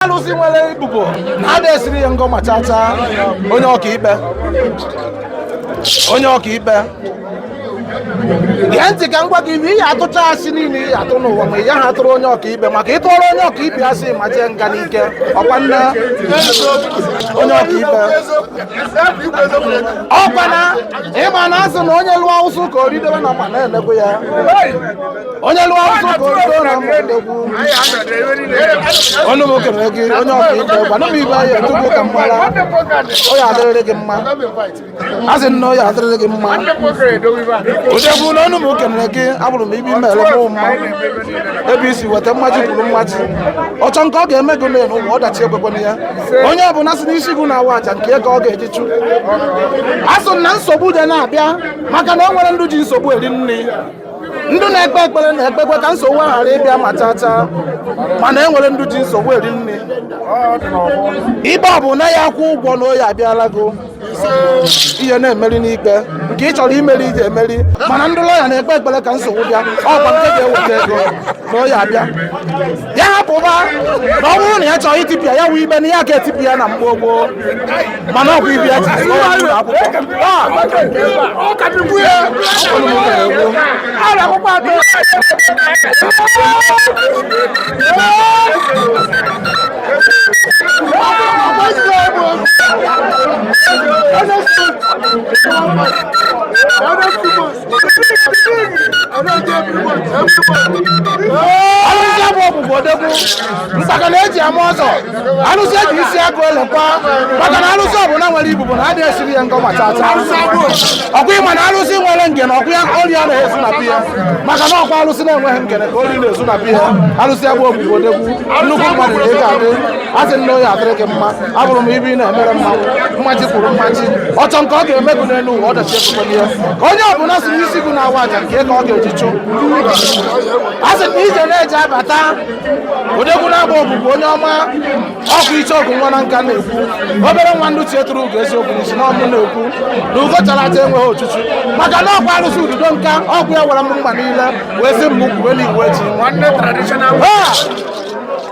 arụsị nwere ibubo na-ada esiri ya ngọ ma chacha onye ọkaikpe onye ọkaikpe gee ntị ka m gwa gị ibe ị ya-atụcha asị niile ị ya-atụ n'ụwa ma ị yaha atụrụ onye ọkaikpe maka ị tụọrọ onye ọkaikpe asị ma jee nga n'ike ọkwa nne onye ọkaikpe ọkwa na ịma na asị na onye lụọ ụsụ ka o ridewe na ma na-ene egwu ya onye lụọ ọsọ ka o too na mgbọdọgwu ọnụ m kenere gị onye ọka ikpe gwana m ibe ya tupu ka m mara ọ ya adịrịrị gị mma a sị nna ọ ya adịrịrị gị mma odegwu na ọnụ m kenere gị abụrụ m ibe i mere mụ mma ebe i si weta mmaji kwuru mmaji ọchọ nke ọ ga-eme gị n'elu ụwa ọdachi ekwekwana ya onye ọbụla si n'isi gị na-awa aja nke ka ọ ga-eji chụ a sị na nsogbu dị na-abịa maka na o nwere ndụ ji nsogbu eri nri ndị na-ekpe ekpere na-ekpekwa ka nsogbu a ghara ịbịa ma chachaa mana e nwere ndị ji nsogbu eri nri ibe ọ bụ na ya akwụ ụgwọ na ọ ya-abịala gị ị ya na-emeri n'ikpe nke ị chọrọ imeri ị ya-emeri mana ndị lọya na-ekpe ekpere ka nsogbu bịa ọkwa nke ga-eweta ego na ọ ya-abịa ya hapụba na ọ bụrụ na ya chọrọ itipịa ya wụ ikpe na ya ga-etipịa ya na mgbe gboo mana ọkwa ibi ya ji arụsị abụ ọbụbụ odegwu mkpaka na eji ama ọzọ arụsị eji isi agụ elekwa maka na arụsị ọbụla nwere ibubo na adịghị esiri ya ngọ ma chacha ọkwa ịma na arụsị nwere ngene ọkwa ya ori ya na-ezu na piya maka na ọkwa arụsị na-enweghị ngene ka ori na-ezu na piya arụsị abụ ọbụbụ odegwu nnukwu mmadụ na ego adị a sị nne ọ ya adịrị gị mma abụrụ m ibe ị na-emere mụ mmaji kwuru mmaji ọchọ nke ọ ga-eme gị n'elu ụwa ọdachi ekwekwana ya ka onye ọbụla si n'isi gị na-awa aja nke ka ọ ga-eji chụ a sị na ije na-eji abata odegwu na-agba ogbugbu onye ọma ọkụ iche ọgụ nwa na nka na-ekwu obere nwa ndị ichie turu ugo eziokwu n'isi na ọ mụ na-ekwu na ugo chara acha enweghị ochuchu maka na ọkwa arụsị ududo nka ọgwụ ya wara m mma niile wee sị m kwube na iwu eji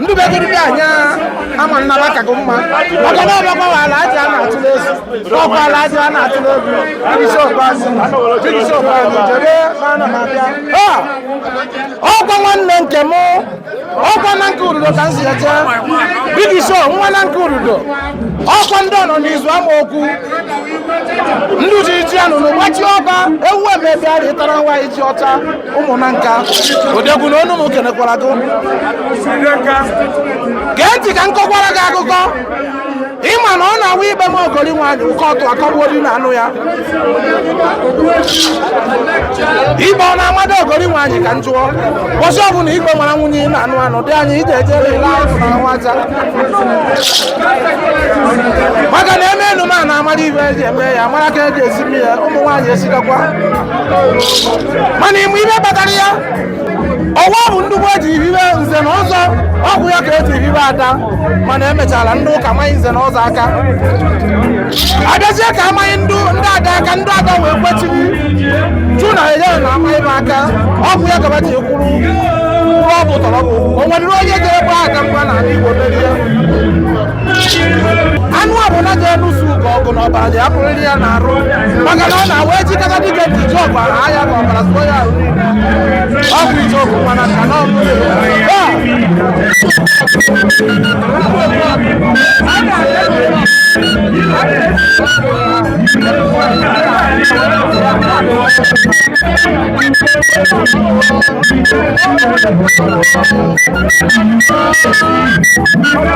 ndị begoro dị anya ama nnaba ka gị mma maka na ọbịakwa wa ala aja a na-atụ n'ezi ọkwa ala aja a na-atụ n'obi jigisi okpeazụ jigisi okpeazụ jebe ma ana m abịa Ha! ọkwa nwanne nke m ọkwa na nke ududo ka m si eje Big Show nwa na nke ududo ọkwa ndị ọ nọ n'izu ama okwu ndị ji ji anụnụ gbachie ọba ewu emebịa rịtara nwa iji ọcha ụmụnna nka odegwu na onu m kenekwara gị gee ntị ka m kọkwara gị akụkọ ịma na ọ na-awụ ikpe ma ogori nwaanyị ụkọ ọtụ akọgbuo di na-anụ ya ikpe ọ na-amado ogori nwaanyị ka m jụọ ụbọchị ọbụla ikpe mara nwunye ị na-anụ anụ dị anyị ije ejere ile ahụ na nwaja maka na eme enu ma a na-amara ibe eji eme ya mara ka eji esi mmiri ya ụmụ nwaanyị esikakwa mana ị ma ibe kpatara ya ọwa bụ ndị igbo eji hibe nze na ọzọ ọ bụ ya ka eji hibe ada mana emechara ndị ụka amanye nze na ọzọ aka abịazie ka amanye ndị ada aka ndị ada wee kwechiri jụ na enye na amanye ba aka ọ bụ ya ka ba ji kwuru kwuru ọ bụ tọrọ bụ o nwere onye ga-agba ada mgba na ala igbo merie anụ ọbụla ga-enusu ugo ọgụ na ọbara ga-apụrịrị ya n'arụ maka na ọ na-awa ejikọta dịka dị ji ọgụ ahụ ahịa ka ọbara sụọ ya ahụ niile ọ bụ ije ọgụ mana ka na ọgụ